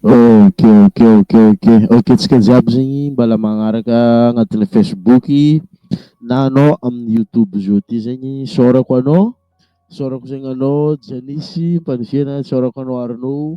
Ok ok ok ok ok tsika jiaby zegny mbala magnaraka agnatin'ny Facebook na anao amin'ny YouTube zao ty zegny isaorako anao isaorako zegny anao Janisy Mpandifiana isaorako anao Arnaud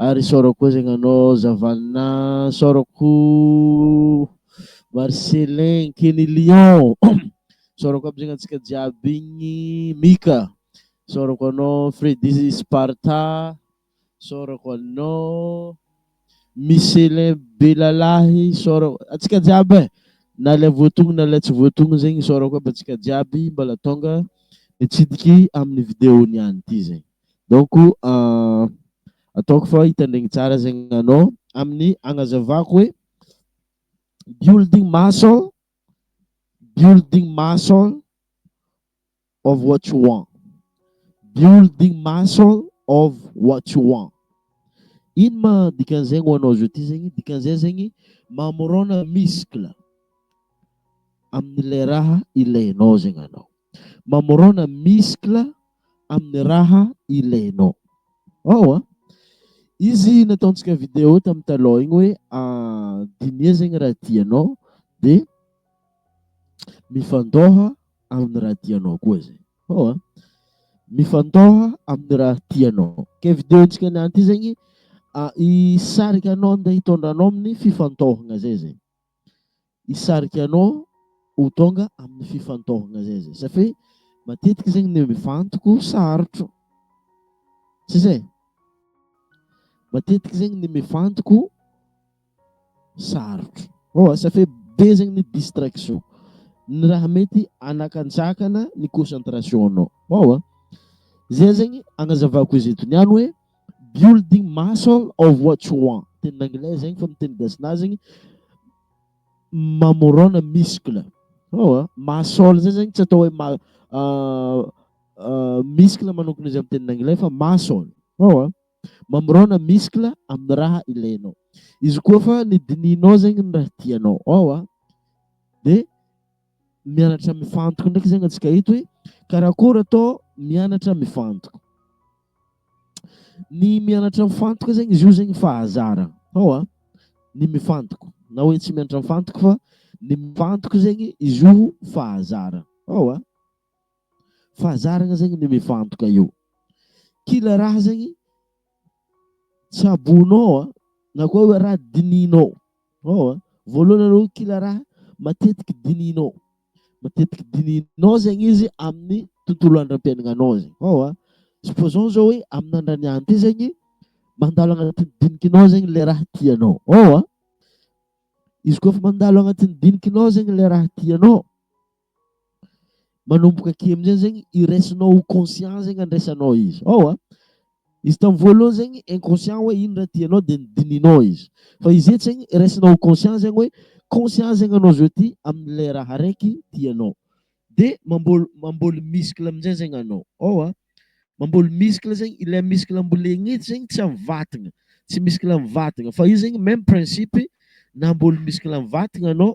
Ary isaorako koa zegny anao Zavalina, isaorako Marcelin, Kenny Lion, isaorako aby zegny antsika jiaby igny, Mika, isaorako anao Freddy Sparta, isaorako anao Michelin Belalahy, isaorako antsika jiaby e, na ilay voatogno na ilay tsy voatogno zegny isaorako aby antsika jiaby mbola tonga nitsidiky amin'ny vidéo niany ity zegny. Donc ataoko fa hitandregny tsara zegny anao amin'ny agnazavako hoe building muscle, building muscle of what you want. Building muscle of what you want. Ino ma dikan'izegny ho anao zao ty zegny? Dikan'izay zegny mamorona muscle amin'ilay raha ilainao zegny anao. Mamorona muscle. amin'ny raha ilainao ao a. Izy nataontsika vidéo tamin'ny taloha igny hoe dinia zegny raha tianao de mifandôha amin'ny raha tianao koa zay ao a. Mifandôha amin'ny raha tianao, ke vidéo-ntsika niany ty zegny hisarika anao ndeha hitondra anao amin'ny fifantôhagna zay zay. hisarika anao ho tonga amin'ny fifantohana zay zay satria matetika zegny ny mivantoko sarotro tsy zay matetika zegny ny mivantoko sarotro oa satria be zegny ny distraction ny raha mety anakantsakana ny concentration anao oa zay zegny agnazavako izy eto niany hoe building muscle of what you want teny anglais zegny fa ny teny gasinazy zegny mamorona muscle oh muscle zay zegny tsy atao hoe ma uh, uh, muscle manokana izy amin'ny teny anglais fa muscle oh mamorona muscle amin'ny raha ilainao izy koa fa ny dininao zegny ny raha tianao oh dia mianatra mifantoka ndraiky zegny atsika eto hoe karakôry atao mianatra mifantoka ny mianatra mifantoka zegny izy io zegny fahazara hao a ny mifantoka na hoe tsy mianatra mifantoka fa ny mifantoka zegny izy io fahazara hao a fahazaragna zegny ny mifantoka io kila raha zegny Tsaboinao an! Na koa hoe raha dinihinao ao an! Voalohany aloha kila raha matetiky dinihinao. Matetiky dinihinao zegny izy amin'ny tontolo andram-piaignanao zegny. Ao an! Supposons zao hoe amin'andran'ny any ty zegny mandalo agnatin'ny dinikinao zegny le raha tianao. Ao an! Izy koa fa mandalo agnatin'ny dinikinao zegny le raha tianao, manomboka aty amin'izay zegny iraisinao ho conscient zegny andraisanao izy ao a izy tamin'ny voalohany zegny inconscient hoe ino raha tianao dia nidinihinao izy fa izy eto zegny iraisinao ho conscient zegny hoe conscient zegny anao zao ty amin'ilay raha araiky tianao dia mamboly mamboly muscle amin'izay zegny anao ao a mamboly muscle zegny ilay muscle ambolegny eto zegny tsy amin'ny vatagna tsy muscle amin'ny vatagna fa io zegny même principe namboly muscle amin'ny vatagna anao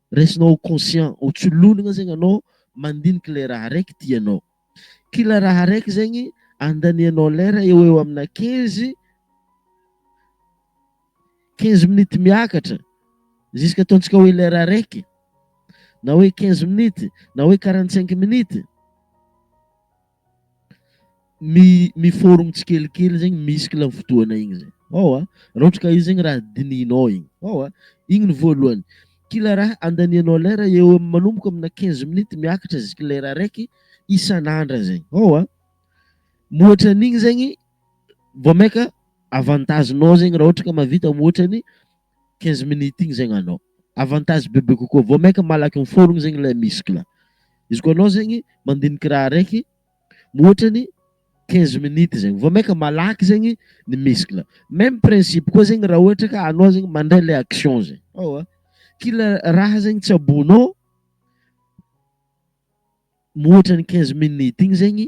Raisinao ho conscient, ho tsy lonigna zegny anao mandinika le raha araiky tianao. Kila raha araiky zegny andanianao lera eo ho eo amina quinze, quinze minutes miakatra jusque ataontsika hoe lera araiky, na hoe quinze minutes, na hoe quarante cinq minutes. mi mi-forme tsikelikely zegny muscle am fotoana igny zay ao a, raha ohatra ka io zegny raha dinihinao igny ao a, igny ny voalohany, kila raha andanianao lera eo am- manomboka aminà quinze minutes miakatra ziky lera araiky isan'andra zay ao a, mihoatra an'igny zegny vao mainka avantage-nao zegny raha ohatra ka mahavita mihoatra ny quinze minutes igny zegny anao avantage bebe kokoa vao mainka malaky miforogny zegny le muscle, izy koa anao zegny mandiniky raha araiky ohatrany quinze minutes zegny vao mainka malaky zegny ny muscle, meme principe koa zegny raha ohatra ka anao zegny mandray le action zegny ewa kila raha zegny tsaboinao ohatrany quinze minutes igny zegny.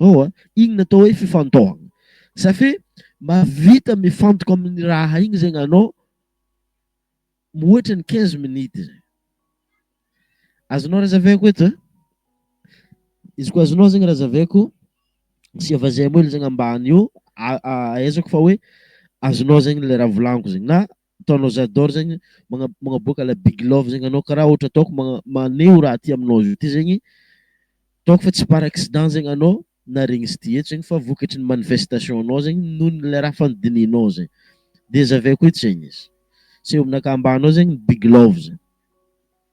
Ao a! Igny natao hoe fifantohagna. Ça fait mahavita mifantoka amin'ny raha igny zegny anao mihoatra ny quinze minutes zay. Azonao razaveako eto e? Izy koa azonao zegny razaveako, asia vazimba hely zegny ambany eo, ahaizako fa hoe azonao zegny le raha volagniko zegny na ataonao j'adore zegny magna- magnaboaka la big love zegny anao karaha ohatra ataoko magna- maneho raha aty aminao izy ty zegny ataoko fa tsy par accident zegny anao naharegny izy ty eto zegny fa vokatry ny manifestation nao zegny noho ny le raha fa nodinihinao zegny dia zaveko etsy zegny izy seho aminakahy ambany ao zegny ny big love zegny.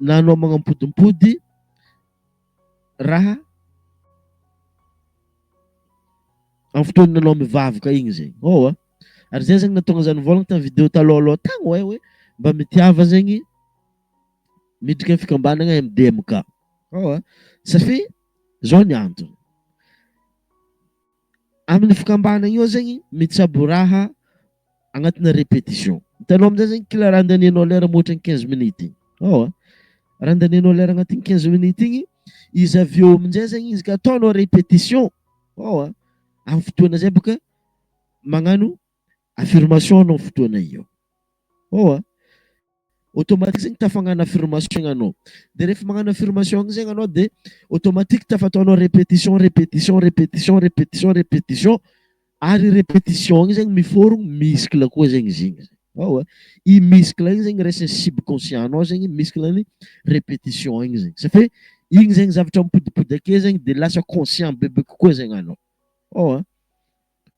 na anao magnampodim-pody raha amin'ny fotoana anao mivavaka igny zegny. Ô a! Ary zay zegny nahatonga za nivôlagna tamin'ny video talôha alôha tagny hoe hoe mba mitiava zegny midriky amin'ny fikambanagna MDMK. Ô a! Satria zao ny antony. Amin'ny fikambana io zegny mitsabo raha agnatina repetition. Hitanao amin'izay zegny kila raha andanianao lera mihoatra ny quinze minutes igny. Ewa, raha andanianao lera agnatin'ny quinze minutes igny, izy avy eo amin'izay zegny izy ka ataonao repetition, ewa, amin'ny fotoana izay bôka magnano Affirmation anao fotoana io ao a! Automatique zegny tafagnano affirmation igny anao. De rehefa magnano affirmation igny zegny anao de automatique tafataonao repetition, repetition, repetition, repetition, repetition. Ary repetition igny zegny mi-forme muscle koa zegny izy igny. Ao a! I muscle igny zegny raisin'ny subconscient anao zegny muscle ny repetition igny zegny. Ça fait igny zegny zavatra mipodipody akeo zegny de lasa conscient bebe kokoa zegny anao. Ao a!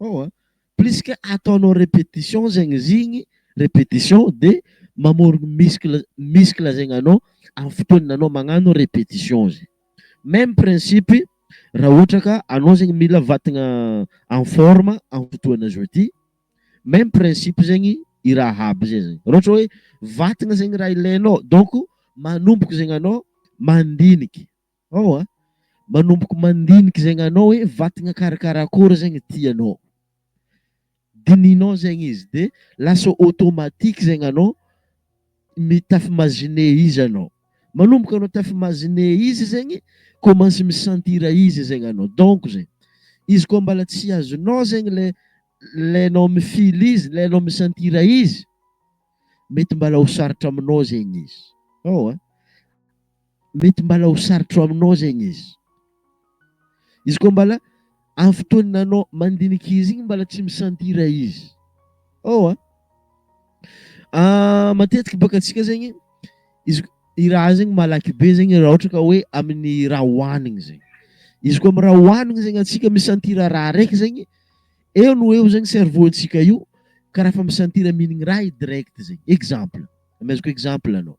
Ao a! Plus que ataonao repetition zegny izy igny, repetition dia mamorogno muscle muscle zegny anao amin'ny fotoana anao magnano repetition zegny. Même principe raha ohatra ka anao zegny mila vatagna en forme amin'ny fotoana zao ty, même principe zegny i raha aby zay zegny. Raha ohatra hoe vatagna zegny raha ilainao donc manomboka zegny anao mandiniky. Ao a! Manomboka mandinika izay gnanao hoe vatagna karakara akôry zegny tianao. Dinihinao zegny izy de lasa automatique zegny anao mi-t'afimazine izy anao. Manomboka anao t'afimazine izy zegny, commence mi-sentir izy zegny anao. Donc zay. Izy koa mbala tsy azonao zegny le le anao mi-feel izy, le anao mi-sentir izy, mety mbala ho sarotra aminao zegny izy. Ao a! Mety mbala ho sarotro aminao zegny izy. Izy koa mbala amin'ny fotoan'ny anao mandinika izy igny mbala tsy mi-sentir izy. Ao a! Matetiky bôka antsika zegny, izy i raha zegny malaky be zegny raha ohatra ka hoe amin'ny raha hohanigny zegny. Izy koa amin'ny raha hohanigny zegny antsika mi-sentir raha araiky zegny, eo no eo zegny cerveau antsika io karaha efa mi-sentir mihinagna raha i direct zegny. Exemple, amezako exemple anao.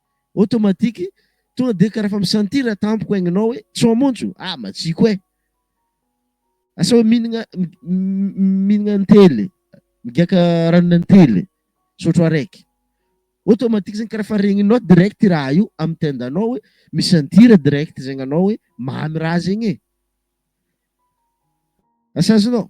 automatique tonga dia karaha efa mi-sentir tampoka aingnao hoe tsy ho amonjo ah matsiko eh! asa hoe mihinagna mihinagna antely migiaka ranona antely sotro araiky automatique zegny karaha efa regninao direct i raha io amin'ny tendanao hoe mi-sentir direct zegny anao hoe mamy raha zegny e! asa azonao.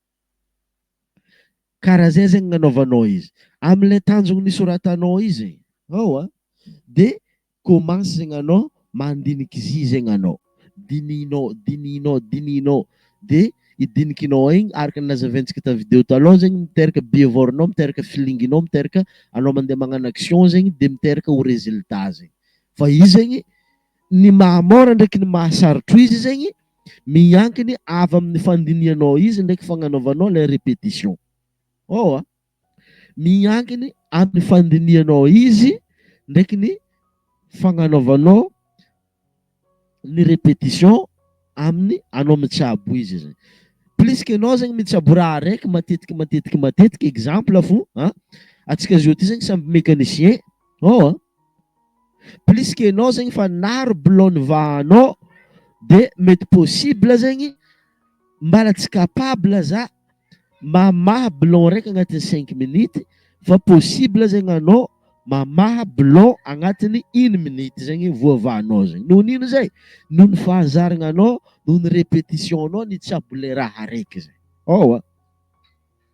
Ka raha zay zegny gnanaovanao izy amle tanjogny nisoratanao izy e hao a de commence zegny anao mandiniky izy zegny anao dinihinao dinihinao dinihinao de i dinikinao igny araka ny nazaventsika ta video taloha zegny miteraka behavior-nao miteraka feeling-nao miteraka anao mandeha magnano action zegny de miteraka ho résultat zegny fa izy zegny Ny maha mora ndraiky ny maha sarotro izy zegny miankigny avy amin'ny fandinihanao izy ndraiky fagnanaovanao ilay répétition. Ohh a! Miankigny amin'ny fandinihanao izy ndraiky ny fagnanaovanao ny répétition amin'ny anao mitsabo izy zegny. Plus que anao zegny mitsabo raha araiky matetiky matetiky matetiky exemple fo a! Antsika zo ty zegny samy mécanicien ohh a! Plus que enao zegny fa naro blonde vahanao de mety possible zegny mbala tsy capable za mamaha blond raiky agnatiny cinq minute fa possible zegny anao mamaha blond agnatiny une minute zegny voa vahanao zegny noho ny ino zay noho ny fahazaragnanao noho ny repetition nao ny tsabo le raha raiky zay.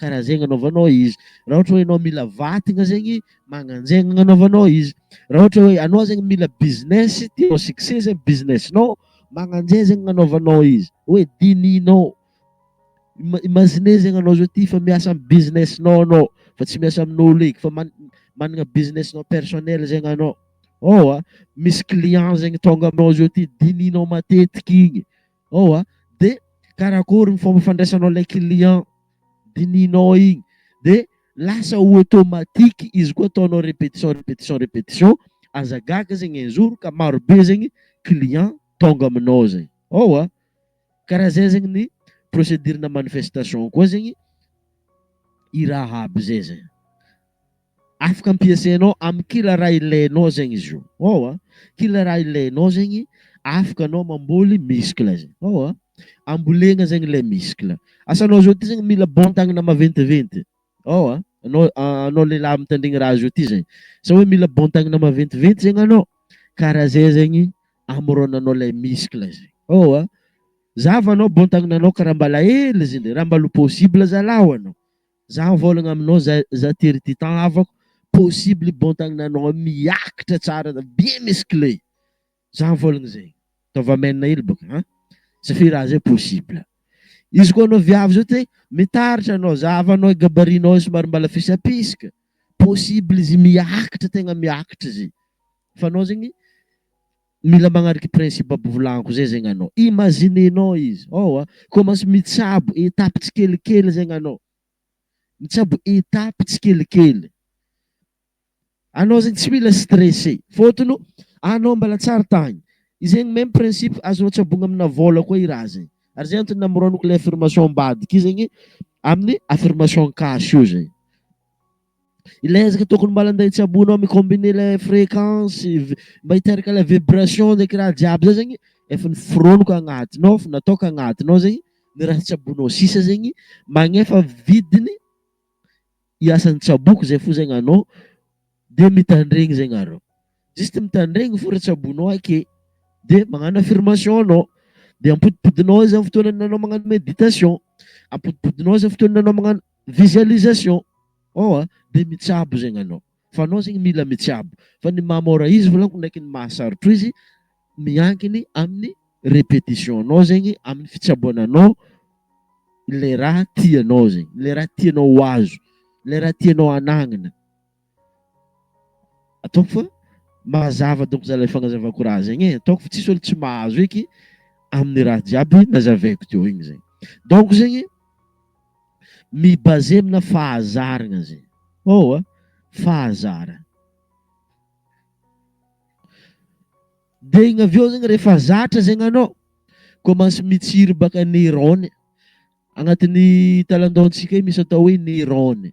Karaha zegny anaovanao izy. Raha ohatra hoe enao mila vatigna zegny, magnanjegny agnanaovanao izy. Raha ohatra hoe anao zegny mila business, tianao succès zegny business-nao, magnanjay zegny agnanaovanao izy. Hoe dinihinao. Ima- Imaginez zegny anao zao ty fa miasa am business-nao anao, fa tsy miasa amin'ôlo eky fa man- managna business-nao personnel zegny anao. Ôa, misy client zegny tônga aminao zao ty, dinihinao matetiky igny. ao a, de karakory ny fomba fandraisanao ilay client dinihinao igny, de lasa automatique izy koa ataonao repetition repetition repetition, aza gaga zegny un jour ka maro be zegny client tonga aminao zay, ao a, karaha zay zegny ny procedure-na manifestation koa zegny i raha aby zay zany. Afaka ampiasainao amin'ny kila raha ilainao zegny izy io. Ao a! Kila raha ilainao zegny afaka anao mamboly muscle zegny. Ao a! Ambolegna zegny le muscle. Asanao zao ty zegny mila bon-tagnana maventiventy. Ao a! Anao anao lehilahy mitandregny raha zao ty zegny. Asa hoe mila bon-tagnana maventiventy zegny anao? Karaha zay zegny amorônanao le muscle zegny. Ao a! Zava anao bon-tagnananao ka raha mbala hely izy ndray, raha mbala possible zalaho anao. Za mivôlagna aminao za za tery ty temps havako possible bon tagnananao miakatra tsara za bien musclé za mivôlagna zegny ataovy amen hely bôka an za fe raha zay possible izy koa anao viavy zao te mitaratra anao za havanao gabarit nao somary mbala fisapisaka possible izy miakatra tegna miakatra izy fa anao zegny Mila magnariky principe aby volagnico zay zegny anao. Imaginenao izy, ao a, commence mitsabo étape tsikelikely zegny anao. Mitsabo étape tsikelikely. Anao zegny tsy mila stressé. Fôtony anao mbala tsary tagny. Izegny même principe azonao tsabogna amina vôla koa i raha zegny. Ary zay antony namoroniko le affirmation ambadika io zegny amin'ny affirmation cash io zegny. Ilay ezaka tokony mba landainy tsy ambony eo mi combiner ilay fréquence mba hiteraka ilay vibration ndraiky raha jiaby zay zegny efa noforoniko agnatiny ao efa nataoko agnatiny ao zegny ny raha tsy ambony ao sisa zegny magnefa vidiny i asan'ny tsaboko zay fo zegny anao de mitandregny zegny areo juste mitandregny fo raha tsy ambony ao ake de magnano affirmation anao de ampodimpodinao zany fotoana anao magnano méditation ampodimpodinao zany fotoana anao magnano Visualisation ao a dia mitsabo zegny anao fa anao zegny mila mitsabo fa ny maha mora izy volaniko ndraiky ny maha sarotro izy miankigny amin'ny repetition nao zegny amin'ny fitsaboana anao ilay raha tianao zegny ilay raha tianao ho azo ilay raha tianao hanagnana. Ataoko fa mazava donc zalahy fagnazavako raha zegny e, ataoko fa tsisy olo tsy mahazo eky amin'ny raha jiaby nazavaiko teo igny zegny. Donc zegny mi-baser amina fahazaragna zegny. Hao a, fahazara. Dia igny avy eo zegny rehefa zatra zegny anao, commence mitsiry baka neurone, agnatin'ny talan-dohan-tsika io misy atao hoe neurone.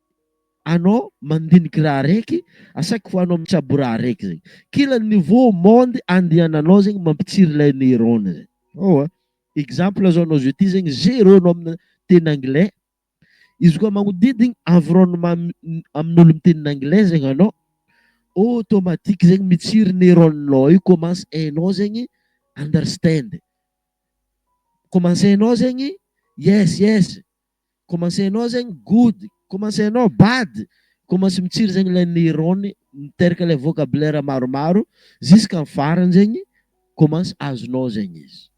anao mandiniky raha raiky asaiko anao mitsabo raha raiky zegny kila niveau monde andihananao zegny mampitsiry lay neurone zay oh a exemple zao anao zio ty zegny zero anao amina teny anglais izy koa magnodidigny environnement amin'olo miteny anglais zegny anao automatique zegny mitsiry neurone nao io commence hainao zegny understand commence hainao zegny yes yes Commencer nao zegny good, commencer nao bad, commence mitsiry zegny ilay neurones miteraka ilay vocabulaire maromaro jusqu'à ny farany zegny commence azonao zegny izy.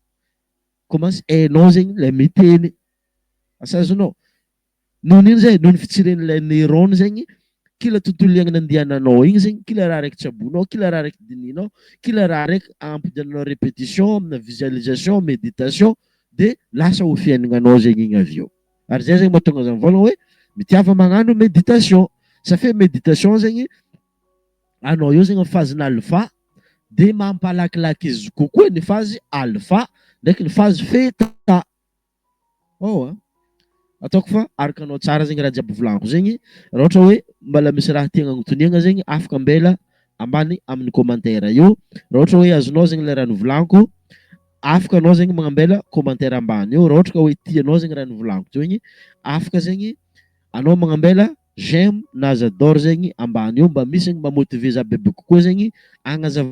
Commence hainao zegny ilay miteny, asa azonao. Noho ny ino zay? Noho ny fitsirian'ilay neurones zegny Kila tontolo iainana andiananao igny zegny, kila raha araiky tsabonao, kila raha araiky dinihinao, kila raha araiky ampidiananao répétition amina visualisation, méditation de lasa ho fiainagnanao zegny igny avy eo. Ary zay zegny mahatonga za mivôlagna hoe mitiava magnano méditation. Sa fe méditation zegny anao eo zegny am phase-na alpha de mampalakilaky izy kokoa ny phase alpha ndraiky ny phase theta. Ao a! Ataoko fa arokanao tsara zegny raha jiaby volagno zegny, raha ohatra hoe mbala misy raha tiagna agnotoniagna zegny afaka ambela ambany amin'ny commentaire eo, raha ohatra hoe azonao zegny le raha nivolagniko afaka anao zegny magnambela commentaire ambany eo, raha ohatra ka hoe tianao zegny raha nivolagniko teo igny afaka zegny anao magnambela j'aime na j'adore zegny ambany eo mba misy zegny mba motiver za bebe kokoa zegny agnazava.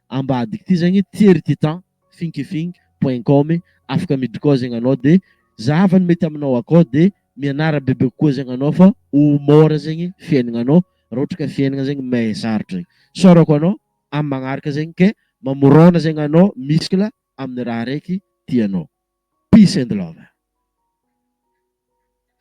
ambadika ity zegny thierry titan finkifink point com e afaka miditra koa zegny anao de zahava ny mety aminao akao de mianara bebe kokoa zegny anao fa ho mora zegny fiaignanao raha ohatra ka fiaignana zegny may sarotra e isaorako anao amin'ny magnaraka zegny ke mamorona zegny anao miskle amin'ny raha araiky tianao peace and love.